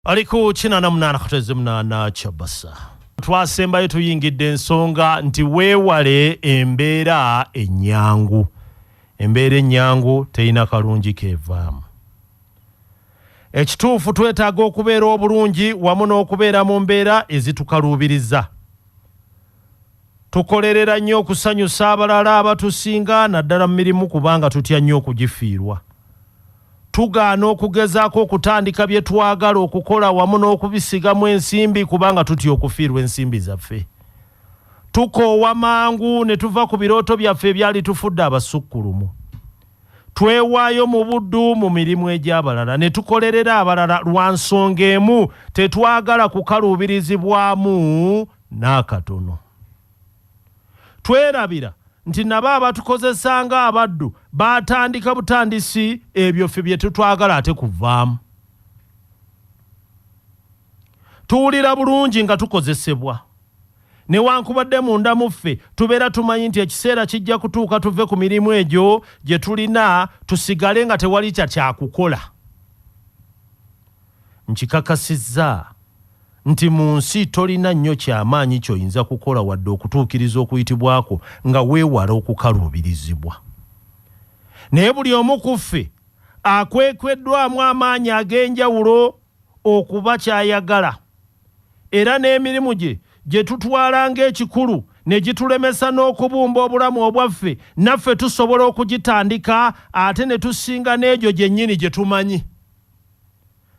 ali ku kinana munana katweze munana kyabasa twasembayo tuyingidde ensonga nti weewale embeera ennyangu embeera ennyangu terina kalungi keevaamu ekituufu twetaaga okubeera obulungi wamu n'okubeera mu mbeera ezitukaluubiriza Tukolerera nnyo okusanyusa abalala abatusinga naddala mu mirimu kubanga tutya nnyo okugifiirwa. Tugaana okugezaako okutandika bye twagala okukola wamu n'okubisigamu ensimbi kubanga tutya okufiirwa ensimbi zaffe. Tukoowa mangu ne tuva ku birooto byaffe ebyalitufudde abasukkulumu. Twewaayo mu buddu mu mirimu egy'abalala ne tukolerera abalala lwa nsonga emu, tetwagala kukaluubirizibwamu. N'akatono. Twerabira nti nabo abatukozesa nga abaddu baatandika butandisi ebyo ffe bye tutwagala ate kuvaamu. Tuwulira bulungi nga tukozesebwa. Newankubadde munda mu ffe tubeera tumanyi nti ekiseera kijja kutuuka tuve ku mirimu egyo gye tulina tusigale nga tewali kya kyakukola. Nkikakasizza. nti mu nsi tolina nnyo kya maanyi ky'oyinza kukola wadde okutuukiriza okuyitibwa kwo nga weewala okukaluubirizibwa. Naye buli omu ku ffe akwekweddwamu amaanyi ag'enjawulo okuba ky'ayagala, era n'emirimu gye gye tutwala ng'ekikulu ne gitulemesa n'okubumba obulamu obwaffe, naffe tusobola okugitandika ate ne tusinga n'egyo gyennyini gye tumanyi.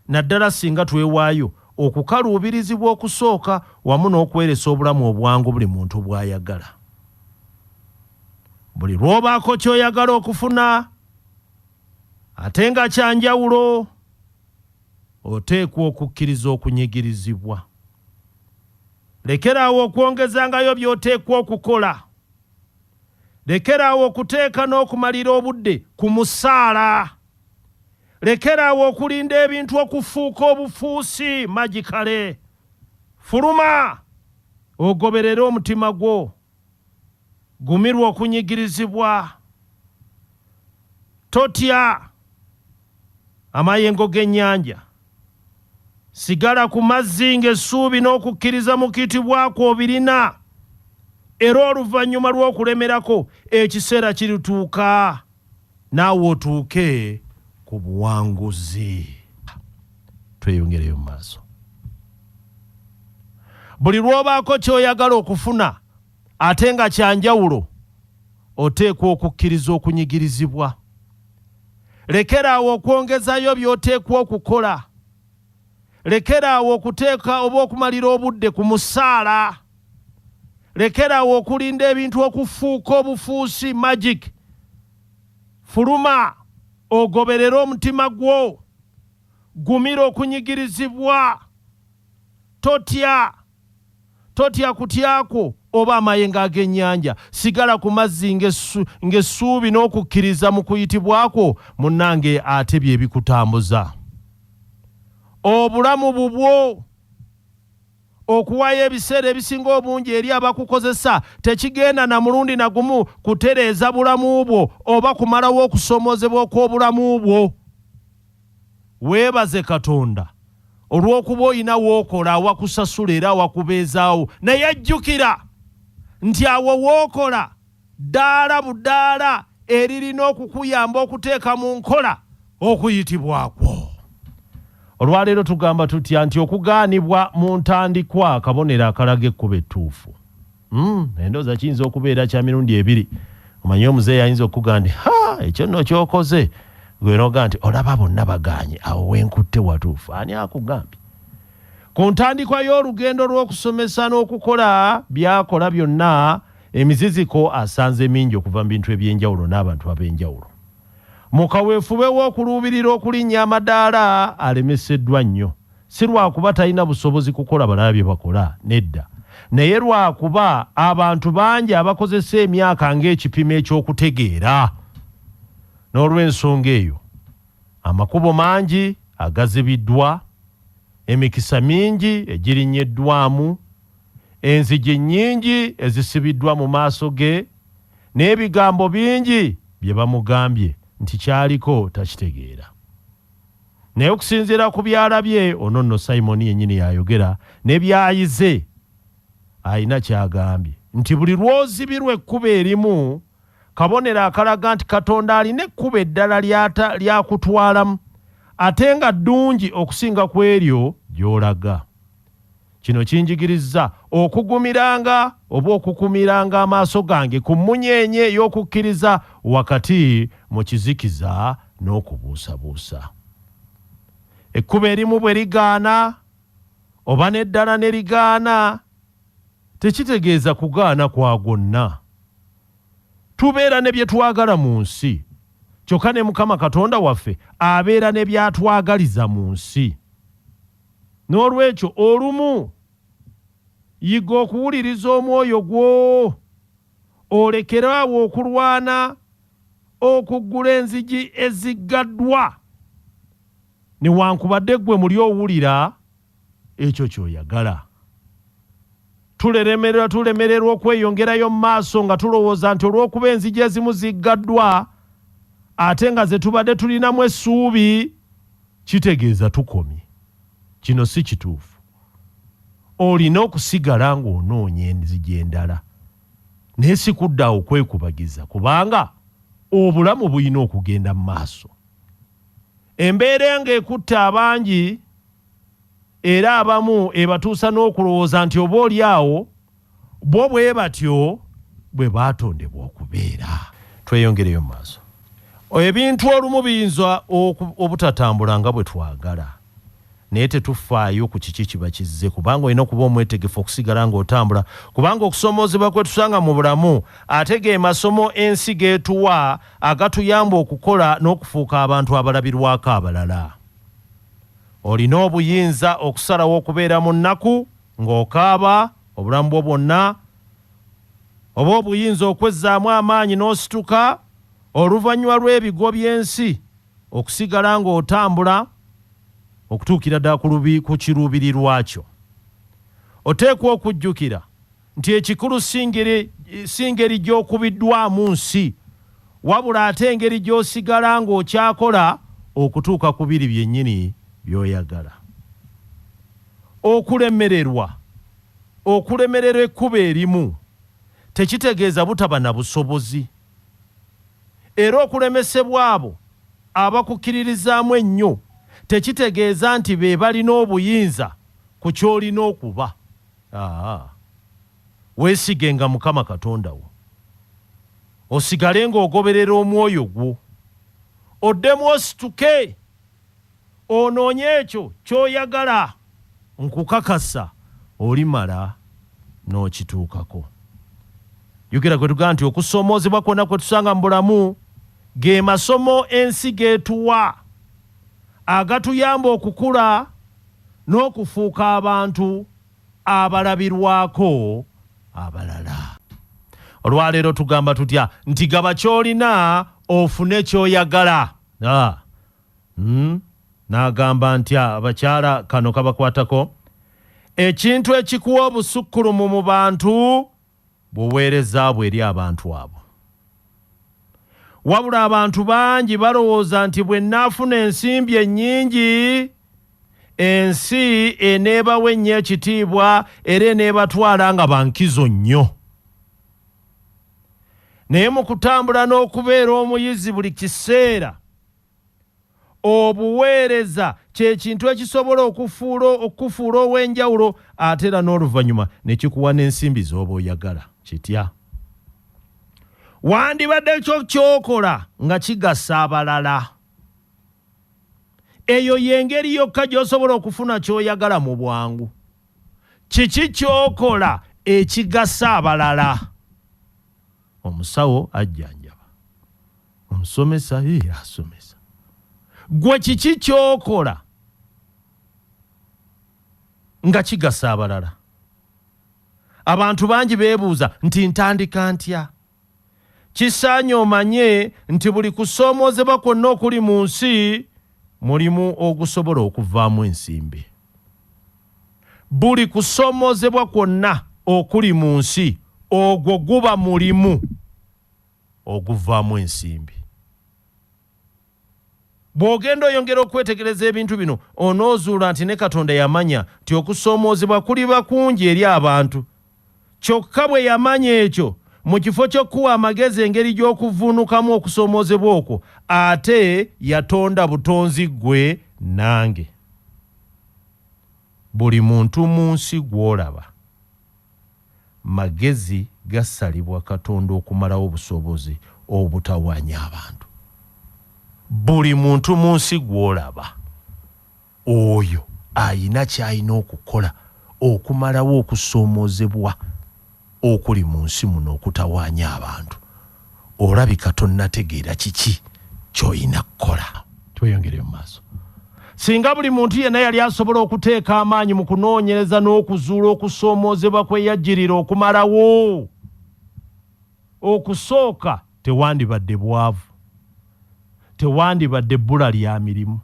naddala ssinga twewaayo okukaluubirizibwa okusooka wamu n'okweresa obulamu obwangu buli muntu bw'ayagala. Buli lw'obaako ky'oyagala okufuna ate nga kya njawulo, oteekwa okukkiriza okunyigirizibwa. Lekeraawo okwongezangayo by'oteekwa okukola. Lekeraawo okuteeka n'okumalira obudde ku musaala. Lekera awo okulinda ebintu okufuuka obufuusi magikale. Fuluma ogoberere omutima gwo. Gumirwa okunyigirizibwa. Totya amayengo g'ennyanja. Sigala ku mazzi ng'essuubi n'okukkiriza mu kitibwa kwo obirina, era oluvannyuma lw'okulemerako, ekiseera kirituuka naawe otuuke ku buwanguzi. Tweyongereyo mu maaso. Buli lw'obaako ky'oyagala okufuna, Ate nga kya njawulo, oteekwa okukkiriza okunyigirizibwa. Lekera awo okwongezayo by'oteekwa okukola. Lekera awo okuteeka oba okumalira obudde ku musaala. Lekera awo okulinda ebintu okufuuka obufuusi, magic. Fuluma ogoberere omutima gwo. Gumira okunyigirizibwa. Totya. Totya kutya kwo oba amayengo ag'ennyanja. Sigala ku mazzi ng'essuubi n'okukkiriza mu kuyitibwa kwo, munnange, ate bye bikutambuza. Obulamu bubwo. Okuwaayo ebiseera ebisinga obungi eri abakukozesa tekigenda na mulundi na gumu kutereeza bulamu bwo oba kumalawo okusoomoozebwa okw'obulamu bwo. Weebaze Katonda olw'okuba olina w'okola awakusasula era awakubeezaawo. Naye jjukira nti awo w'okola ddaala budaala eririna okukuyamba okuteeka mu nkola okuyitibwa kwo. Olwaleero tugamba tutya nti okugaanibwa mu ntandikwa kabonero akalaga ekkubo ettuufu. Mm, endooza kiyinza okubeera kya mirundi ebiri omanyi omuzeeyi ayinza okukuga nti ha ekyo nno kyokoze gwe noga nti olaba bonna baganye awo wenkutte watuufu ani akugambye ku ntandikwa y'olugendo lw'okusomesa n'okukola byakola byonna emiziziko asanze mingi okuva mu bintu eby'enjawulo n'abantu ab'enjawulo mu kaweefube w'okuluubirira okulinnya amadaala alemeseddwa nnyo si lwakuba talina busobozi kukola balala bye bakola, nedda, naye lwakuba abantu bangi abakozesa emyaka ng'ekipimo eky'okutegeera. N'olw'ensonga eyo, amakubo mangi agazibiddwa, emikisa mingi egirinnyeddwamu, enzigi nnyingi ezisibiddwa mu maaso ge, n'ebigambo bingi bye bamugambye nti ky'aliko takitegeera. naye okusinziira ku byalabye ono nno simoni yennyini yayogera ne byayize alina kyagambye nti buli lwozibirwa ekkubo erimu kabonero akalaga nti katonda alina ekkubo eddala lyakutwalamu ate nga ddungi okusinga ku eryo gyolaga Kino kinjigirizza okugumiranga oba okukumiranga amaaso gange ku mmunyeenye y'okukkiriza wakati mu kizikiza n'okubuusabuusa. Ekkubo erimu bwe ligaana oba n'eddala ne ligaana, tekitegeeza kugaana kwa gwonna. Tubeera ne bye twagala mu nsi, kyokka ne Mukama Katonda waffe abeera ne by'atwagaliza mu nsi. N'olwekyo, olumu yiga okuwuliriza omwoyo gwo, olekere awo okulwana okuggula enzigi eziggaddwa. Newankubadde ggwe muli owulira ekyo ky'oyagala. Tuleremererwa tulemererwa okweyongerayo mu maaso nga tulowooza nti olw'okuba enzigi ezimu ziggaddwa ate nga ze tubadde tulinamu essuubi kitegeeza tukomye. Kino si kituufu. Olina okusigala ng'onoonya enzigi endala naye si kudda awo kwekubagiza kubanga obulamu bulina okugenda mu maaso. Embeera eno ekutte abangi era abamu ebatuusa n'okulowooza nti oba oli awo bo bwe batyo bwe baatondebwa okubeera. Tweyongereyo mu maaso. Ebintu olumu biyinza obutatambula nga bwe twagala. naye tetufaayo ku kiki kiba kizze kubanga olina okuba omwetegefu okusigala ng'otambula kubanga okusoomoozebwa kwe tusanga mu bulamu ate ge masomo ensi g'etuwa agatuyamba okukola n'okufuuka abantu abalabirwako abalala olina obuyinza okusalawo okubeera mu nnaku ng'okaaba obulamu bwo bwonna oba obuyinza okwezzaamu amaanyi n'osituka oluvannyuma lw'ebigo by'ensi Okusigala ng'otambula okutuukira ddala ku kiruubirirwa kyo, oteekwa okujjukira nti ekikulu si ngeri gy'okubiddwamu nsi, wabula ate engeri gy'osigala ng'okyakola okutuuka ku biri byennyini by'oyagala. Okulemererwa, Okulemererwa ekkubo erimu tekitegeeza butaba na busobozi. Era okulemesebwa abo abakukkiririzaamu ennyo tekitegeeza nti be balina obuyinza ku ky'olina okuba. Aa. Weesigenga Mukama Katonda wo, osigale ng'ogoberera omwoyo gwo, oddemu osituke Onoonye ekyo ky'oyagala, nkukakasa olimala n'okituukako. Jjukira kwe tugamba nti okusoomoozebwa kwonna kwe tusanga mu bulamu ge masomo ensi g'etuwa agatuyamba okukula n'okufuuka abantu abalabirwako abalala. Olwaleero tugamba tutya nti gaba ky'olina ofune ky'oyagala? Uhmm nagamba ntya abakyala kano kabakwatako ekintu ekikuwa obusukkulumu mu bantu bwoweereza bwo eri abantu abo wabula abantu bangi balowooza nti bwenafuna ensimbi ennyingi ensi eneebawa ennyo ekitiibwa era eneebatwala nga bankizo nnyo naye mu kutambula n'okubeera omuyizi buli kiseera Obuweereza kye kintu ekisobola okufuula okukufuula ow'enjawulo ate era n'oluvannyuma ne kikuwa n'ensimbi z'oba oyagala. Kitya? Wandibadde kyo ky'okola nga kigasa abalala. Eyo y'engeri yokka gy'osobola okufuna ky'oyagala mu bwangu. Kiki ky'okola ekigasa abalala? Omusawo ajjanjaba. omusomesa ye asomesa gwe kiki kyokola nga kigasa abalala abantu bangi beebuuza nti ntandika ntya kisaanye omanye nti buli kusoomoozebwa kwonna okuli mu nsi mulimu ogusobola okuvaamu ensimbi buli kusoomoozebwa kwonna okuli mu nsi ogwo guba mulimu oguvaamu ensimbi. Bw'ogenda oyongera okwetegereza ebintu bino, onoozuula nti ne Katonda yamanya nti okusoomoozebwa kuliba kungi eri abantu. Kyokka, bwe yamanya ekyo, mu kifo ky'okukuwa amagezi engeri gy'okuvvuunukamu okusoomoozebwa okwo, ate yatonda butonzi ggwe nange. Buli muntu mu nsi gw'olaba. magezi gasalibwa Katonda okumalawo obusobozi obutawaanya abantu. Buli muntu mu nsi gw'olaba, oyo alina ky'alina okukola okumalawo okusoomoozebwa okuli mu nsi muno okutawaanya abantu. olabika tonnategeera kiki ky'olina kukola tweyongere mu maaso singa buli muntu yenna yali asobola okuteeka amaanyi mu kunoonyereza n'okuzuula okusoomoozebwa kwe yajjirira okumalawo okusooka tewandibadde bwavu tewandibadde bbula lya mirimu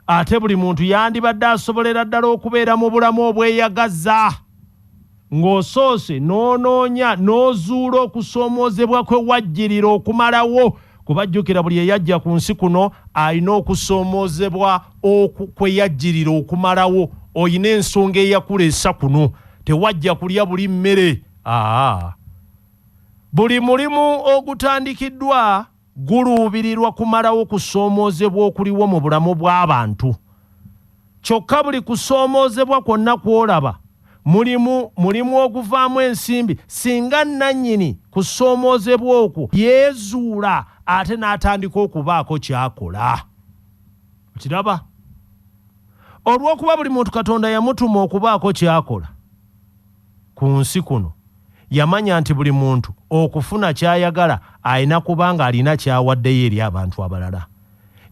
Ate buli muntu yandibadde asobolera ddala okubeera mu bulamu obweyagaza ng'osoose n'onoonya n'ozuula okusoomoozebwa kwe wajjirira okumalawo kuba jjukira buli eyajja ku nsi kuno alina okusoomoozebwa kwe yajjirira okumalawo olina ensonga eyakuleesa kuno tewajja kulya buli mmere aa buli mulimu ogutandikiddwa guluubirirwa kumalawo kusoomoozebwa okuliwo mu bulamu bw'abantu. Kyokka buli kusoomoozebwa kwonna kw'olaba mulimu mulimu oguvaamu ensimbi singa nnannyini kusoomoozebwa okwo yeezuula ate n'atandika okubaako ky'akola. Okiraba? Olw'okuba buli muntu Katonda yamutuma okubaako ky'akola. ku nsi kuno, yamanya nti buli muntu okufuna ky'ayagala alina kuba ng'alina ky'awaddeyo eri abantu abalala.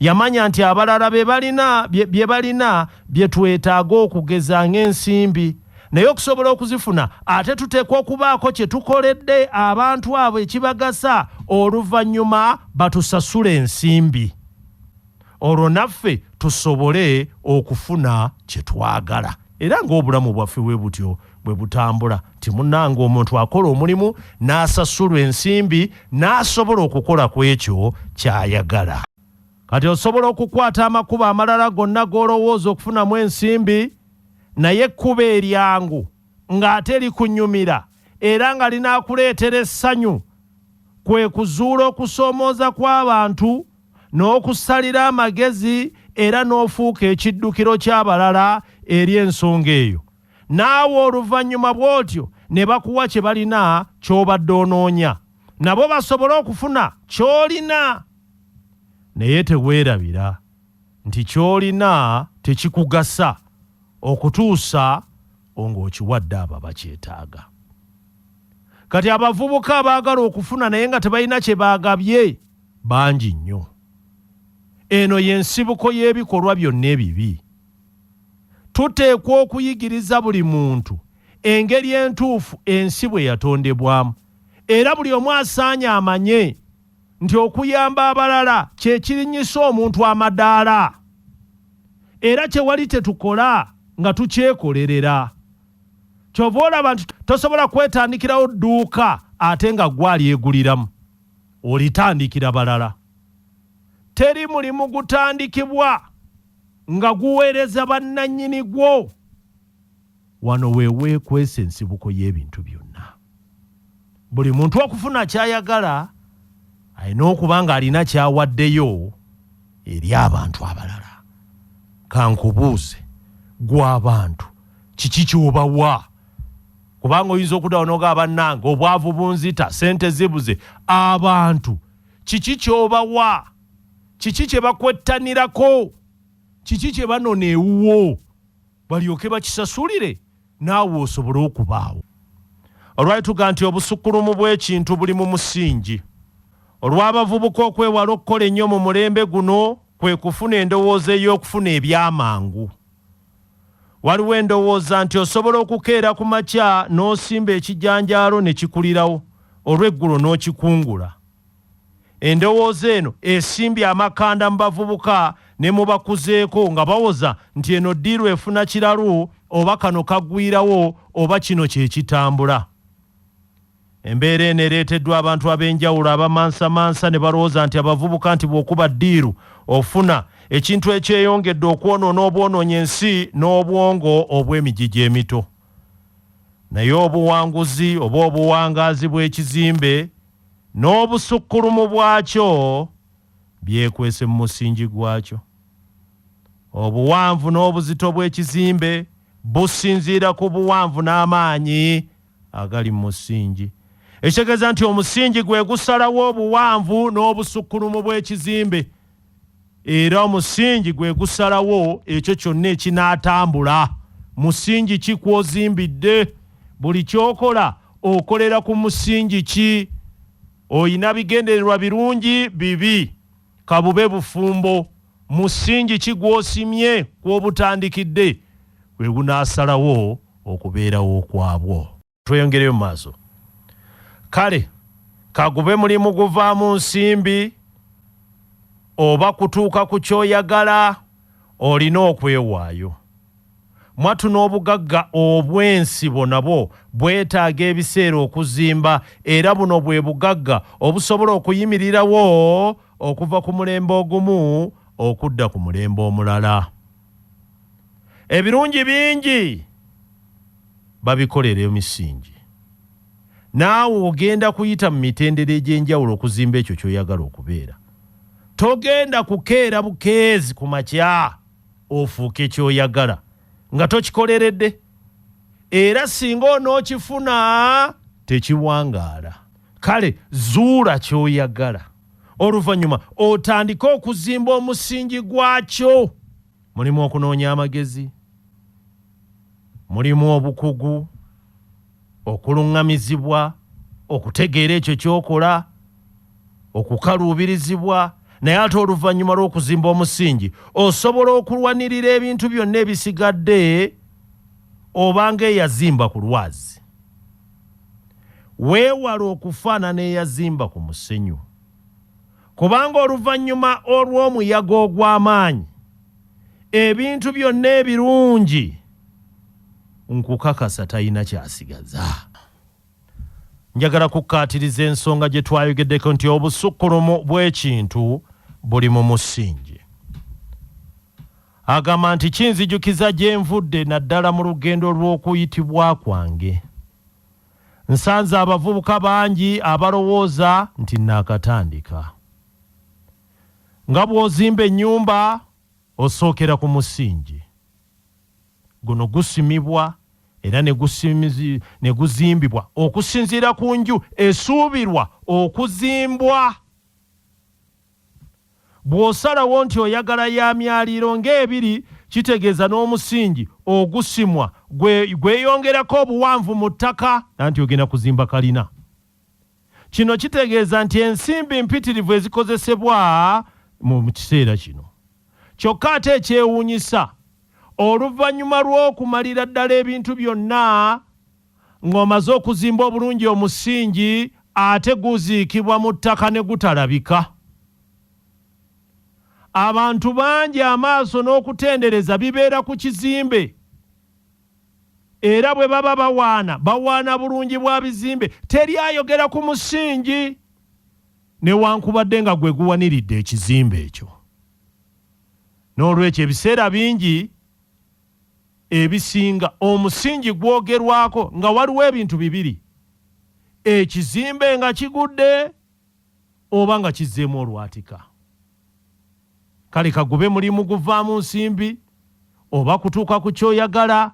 Yamanya nti abalala be balina bye balina bye twetaaga okugeza ng'ensimbi, naye okusobola okuzifuna ate tuteekwa okubaako kye tukoledde abantu abo ekibagasa oluvannyuma batusasule ensimbi. olwo naffe tusobole okufuna kye twagala era ng'obulamu bwaffe bwe butyo bwe butambula nti munnanga omuntu akola omulimu n'asasulwa ensimbi n'asobola okukola ku ekyo ky'ayagala kati osobola okukwata amakubo amalala gonna g'olowooza okufunamu ensimbi naye ekkubo eryangu ng'ate likunyumira era nga linaakuleetera essanyu kwe kuzuula okusoomooza kw'abantu n'okusalira amagezi era n'ofuuka ekiddukiro ky'abalala eri ensonga eyo. Naawe oluvannyuma bw'otyo ne bakuwa kye balina ky'obadde onoonya, nabo basobole okufuna ky'olina. Naye teweerabira nti ky'olina tekikugasa okutuusa o ng'okiwadde abo abakyetaaga. Kati abavubuka abaagala okufuna naye nga tebalina kye bagabye Bangi nnyo. Eno ye nsibuko y'ebikolwa byonna ebibi. Tuteekwa okuyigiriza buli muntu engeri entuufu ensi bwe yatondebwamu, era buli omu asaanye amanye nti okuyamba abalala kye kirinnyisa omuntu amadaala, era tewali kye tukola nga tukyekolerera. Ky'ova olaba nti tosobola kwetandikirawo dduuka ate nga ggwe alyeguliramu. olitandikira balala. Teri mulimu gutandikibwa nga guweereza bannannyini gwo. Wano we weekwesa ensibuko y'ebintu byonna. Buli muntu okufuna ky'ayagala alina okuba ng'alina ky'awaddeyo eri abantu abalala. Ka nkubuuze, ggwe abantu kiki ky'obawa? kubanga oyinza okudawo noga bannange obwavu bunzita sente zibuze abantu kiki kyobawa kiki kyebakwettanirako kiki kyebanona ewuwo balyoke bakisasulire naawe osobole okubaawo olwali tuga nti obusukkulumu bw'ekintu buli mu musingi olw'abavubuka okwewala okukola ennyo mu mulembe guno kwe kufuna endowooza ey'okufuna ebyamangu Waliwo endowooza nti osobola okukeera ku makya n'osimba ekijanjaalo ne kikulirawo, olw'eggulo n'okikungula. Endowooza eno esimbye amakanda mu bavubuka ne mu bakuzeeko nga bawoza nti eno ddiiru efuna kiralu oba kano kagwirawo oba kino kye kitambula. Embeera eno ereeteddwa abantu ab'enjawulo abamansamansa ne balowooza nti abavubuka nti bw'okuba ddiiru ofuna, ekintu ekyeyongedde okwonoona obwonoonyi ensi n'obwongo obw'emigigi emito. Naye obuwanguzi oba obuwangaazi bw'ekizimbe n'obusukkulumu bwakyo byekwese mu musingi gwakyo. Obuwanvu n'obuzito bw'ekizimbe businziira ku buwanvu n'amaanyi agali mu musingi ekitegeeza nti omusingi gwe gusalawo obuwanvu n'obusukkulumu bw'ekizimbe era omusingi gwe gusalawo ekyo kyonna ekinaatambula musingi ki kwozimbidde buli kyokola okolera ku musingi ki oyina bigendererwa birungi bibi Ka bube bufumbo, musingi ki gw'osimye kw'obutandikidde we gunaasalawo okubeerawo kwabwo? Tweyongereyo mu maaso. Kale ka gube mulimu guvaamu nsimbi oba kutuuka ku ky'oyagala, olina okwewaayo. Mwatu n'obugagga obw'ensibo nabwo bwetaaga ebiseera okuzimba era buno bwe bugagga obusobola okuyimirirawo okuva ku mulembe ogumu okudda ku mulembe omulala. Ebirungi bingi babikolera emisingi. Naawe ogenda kuyita mu mitendera egy'enjawulo okuzimba ekyo ky'oyagala okubeera. Togenda kukeera bukeezi ku makya. ofuuke kyoyagala nga tokikolerede era singa onookifuna tekiwangaala kale zuula kyoyagala oluvannyuma otandike okuzimba omusingi gwakyo mulimu okunoonya amagezi Mulimu obukugu, okuluŋŋamizibwa, okutegeera ekyo ky'okola, okukaluubirizibwa, naye ate oluvannyuma lw'okuzimba omusingi, osobola okulwanirira ebintu byonna ebisigadde oba ng'eyazimba ku lwazi. Weewale okufaanana eyazimba ku musenyu. Kubanga oluvannyuma olw'omuyaga ogw'amaanyi, ebintu byonna ebirungi, nkukakasa talina ky'asigaza. Njagala kukkaatiriza ensonga gye twayogeddeko nti obusukkulumu bw'ekintu buli mu musingi. Agamba nti kinzijukiza gye nvudde naddala mu lugendo lw'okuyitibwa kwange. nsanze abavubuka bangi abalowooza nti naakatandika. Nga bw'ozimba ennyumba osookera ku musingi. Guno gusimibwa era ne guzimbibwa okusinziira ku nju esuubirwa okuzimbwa. Bw'osalawo nti oyagala ya myaliiro ng'ebiri kitegeeza n'omusingi ogusimwa gwe gweyongerako obuwanvu mu ttaka anti ogenda kuzimba kalina. Kino kitegeeza nti ensimbi mpitirivu ezikozesebwa mu kiseera kino. Kyokka ate ekyewuunyisa oluvannyuma lw'okumalira ddala ebintu byonna, Ng'omaze okuzimba obulungi omusingi ate guziikibwa mu ttaka ne gutalabika. Abantu bangi amaaso n'okutendereza bibeera ku kizimbe era bwe baba bawaana bawaana bulungi bwa bizimbe teri ayogera ku musingi newankubadde nga gwe guwaniridde ekizimbe ekyo. N'olwekyo ebiseera bingi ebisinga omusingi gwogerwako nga waliwo ebintu bibiri, ekizimbe nga kigudde oba nga kizzeemu olwatika. Kale kagube mulimu guvaamu nsimbi oba kutuuka ku kyoyagala,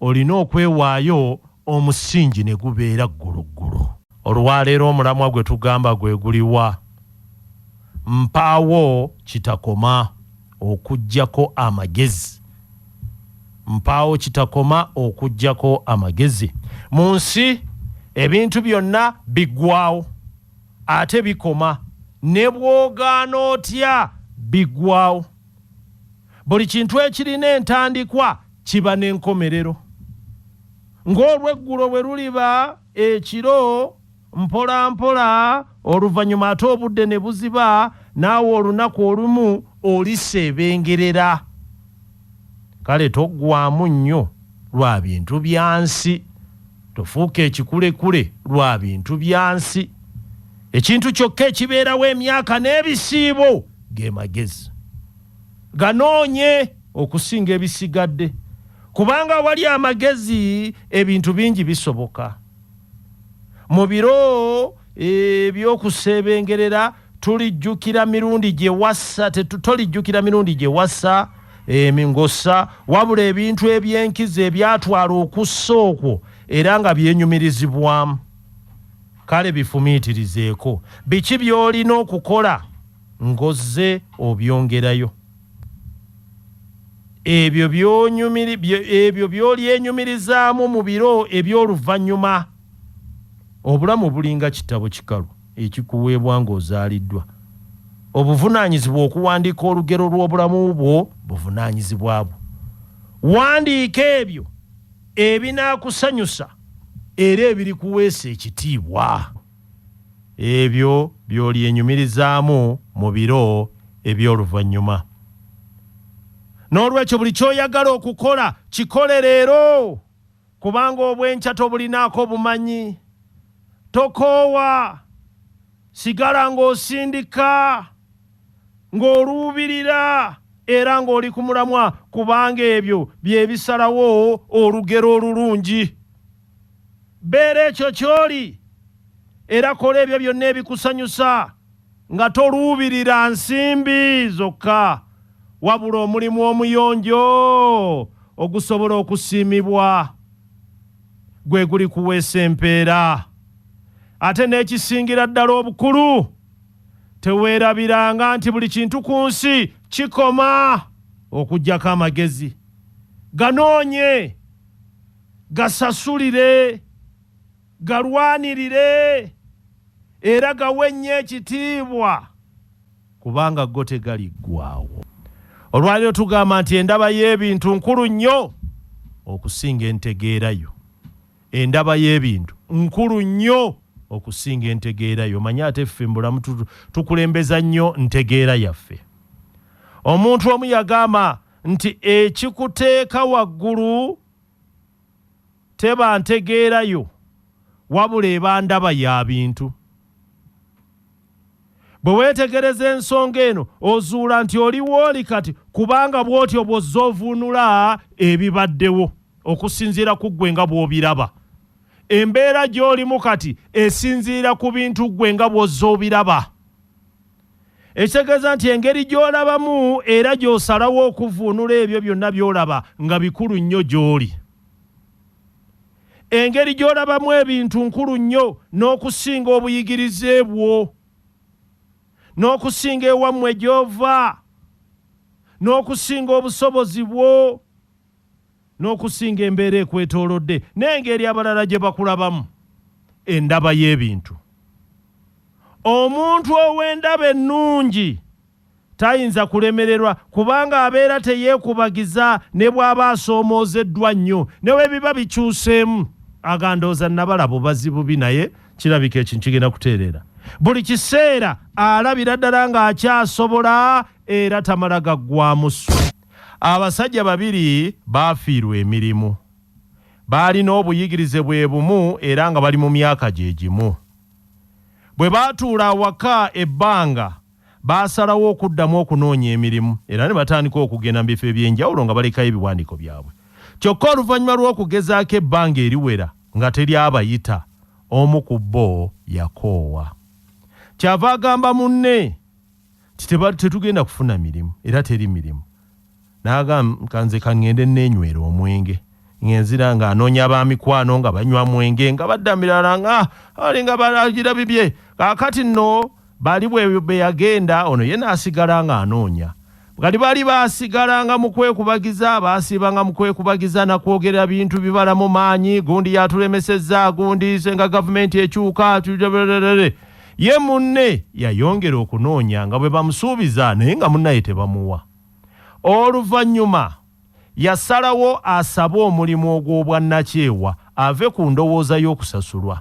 olina okwewaayo Omusingi ne gubeera gguluggulu. Olwaleero omulamwa gwe tugamba gwe guliwa? Mpaawo kitakoma okuggyako amagezi. Mpaawo kitakoma okuggyako amagezi. Mu nsi ebintu byonna biggwaawo ate bikoma. Ne bw'ogaana otya biggwaawo. Buli kintu ekirina entandikwa kiba n'enkomerero. Ng'olweggulo bwe luliba ekiro, mpola mpola, oluvannyuma ate obudde ne buziba, naawe olunaku olumu oliseebengerera. Kale toggwaamu nnyo lwa bintu bya nsi. Tofuuka ekikulekule lwa bintu bya nsi. Ekintu kyokka ekibeerawo emyaka n'ebisiibo ge magezi. ganoonye okusinga ebisigadde kubanga awali amagezi ebintu bingi bisoboka mu biro ebyokuseebengerera eh, tulijjukira mirundi gye wassa tolijjukira mirundi gye wassa emingossa eh, wabula ebintu eby'enkizo ebyatwala okussa okwo era nga byenyumirizibwamu kale bifumiitirizeeko biki by'olina okukola ng'ozze obyongerayo. Ebyo by'onyumiri byo ebyo by'olyenyumirizaamu mu biro eby'oluvannyuma. Obulamu bulinga kitabo kikalu ekikuweebwa ng'ozaaliddwa. Obuvunaanyizibwa okuwandiika olugero lw'obulamu bwo buvunaanyizibwa bwo. Wandiika ebyo ebinaakusanyusa era ebirikuweesa ekitiibwa. ebyo by'olyenyumirizaamu mu biro eby'oluvannyuma. N'olwekyo buli ky'oyagala okukola kikole leero, kubanga obw'enkya tobulinaako bumanyi. Tokoowa. Sigala ng'osindika, ng'oluubirira, era ng'oli ku mulamwa, kubanga ebyo bye bisalawo olugero olulungi. Beera ekyo ky'oli era kola ebyo byonna ebikusanyusa nga toluubirira nsimbi zokka wabula omulimu omuyonjo ogusobola okusiimibwa gwe gulikuweesa empeera. Ate n'ekisingira ddala obukulu, teweerabiranga nti buli kintu ku nsi kikoma okuggyako amagezi. Ganoonye! Gasasulire, galwanirire, era gawe nnyo ekitiibwa, kubanga go tegaliggwaawo. Olwaleero tugamba nti endaba y'ebintu nkulu nnyo okusinga entegeera yo. Endaba y'ebintu nkulu nnyo okusinga entegeera yo. Manya ate ffe mu bulamu tukulembeza nnyo ntegeera yaffe. Omuntu omu yagamba nti ekikuteeka waggulu teba ntegeera yo wabula eba ndaba ya bintu. Bwe weetegereza ensonga eno ozuula nti oli wooli kati kubanga bw'otyo bw'ozze ovuunula ebibaddewo okusinziira ku ggwe nga bw'obiraba. Embeera gy'olimu kati esinziira ku bintu ggwe nga bw'ozze obiraba. Ekitegeeza nti engeri gy'olabamu era gy'osalawo okuvvuunula ebyo byonna by'olaba nga bikulu nnyo gy'oli. Engeri gy'olabamu ebintu nkulu nnyo n'okusinga obuyigirize bwo, n'okusinga ewammwe gy'ova, n'okusinga obusobozi bwo. n'okusinga embeera ekwetoolodde n'engeri abalala gye bakulabamu. Endaba y'ebintu. Omuntu ow'endaba ennungi tayinza kulemererwa kubanga abeera teyeekubagiza ne bw'aba asoomoozeddwa nnyo. Ne bwe biba bikyuseemu aga ndowooza nnabala bubazi bubi naye kirabika ekintu kigenda kutereera. Buli kiseera alabira ddala ng'akyasobola era tamala gaggwaamu ssuubi. Abasajja babiri baafiirwa emirimu. Baalina obuyigirize bwe bumu era nga bali mu myaka gye gimu. Bwe baatuula awaka ebbanga, baasalawo okuddamu okunoonya emirimu era ne batandika okugenda mu bifo eby'enjawulo nga balekayo ebiwandiiko byabwe. Kyokka oluvannyuma lw'okugezaako ebbanga eriwera nga teri abayita, omu ku bo yakoowa. Kyava agamba munne tetugenda kufuna mirimu era teri mirimu nagamba nze kaŋŋende neenywera omwenge ng'enzira ng'anoonya ba mikwano nga banywa mwenge nga badda mirala nga ali nga balagira bibye kaakati nno bali bwe yagenda ono ye n'asigala ng'anoonya bwali bali baasigala nga mu kwekubagiza baasiiba nga mu kwekubagiza na kwogera bintu bibala mu maanyi gundi yatulemesezza gundi senga gavumenti ekyuka Ye munne yayongera okunoonya nga bwe bamusuubiza naye nga munnaye tebamuwa. Oluvannyuma yasalawo asabe omulimu ogw'obwannakyewa ave ku ndowooza y'okusasulwa.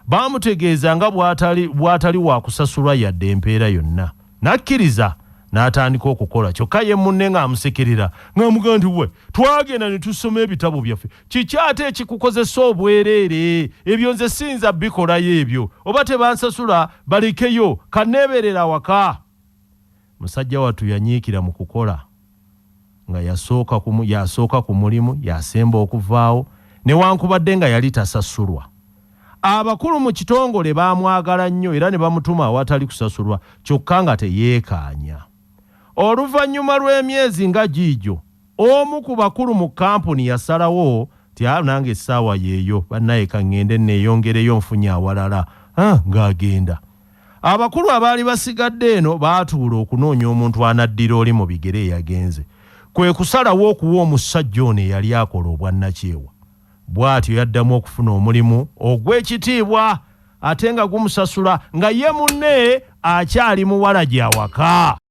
Baamutegeeza nga bw'atali bw'atali wa kusasulwa yadde empeera yonna n'akkiriza n'atandika okukola kyokka ye munne ng'amusekerera ng'amugamba nti, Wee twagenda ne tusoma ebitabo byaffe kiki ate ekikukozesa obwereere ebyo nze siyinza bikolayo ebyo oba tebansasula balekeyo kaneeberera waka musajja wattu yanyiikira mu kukola nga yasooka ku mulimu yasemba okuvaawo newankubadde nga yali tasasulwa abakulu mu kitongole baamwagala nnyo era ne bamutuma awatali kusasulwa kyokka nga teyeekaanya oluvannyuma lw'emyezi nga giigyo Omu ku bakulu mu kkampuni yasalawo nti, Ah, nange essaawa yeeyo bannaye, ka ŋŋende nneeyongereyo nfunye awalala. Ah, ng'agenda. Abakulu abaali basigadde eno baatuula okunoonya omuntu anaddira oli mu bigere eyagenze. Kwe kusalawo okuwa omussajja ono eyali akola obwannakyewa. Bw'atyo yaddamu okufuna omulimu ogw'ekitiibwa ate nga gumusasula nga ye munne akyali muwala gy'awaka.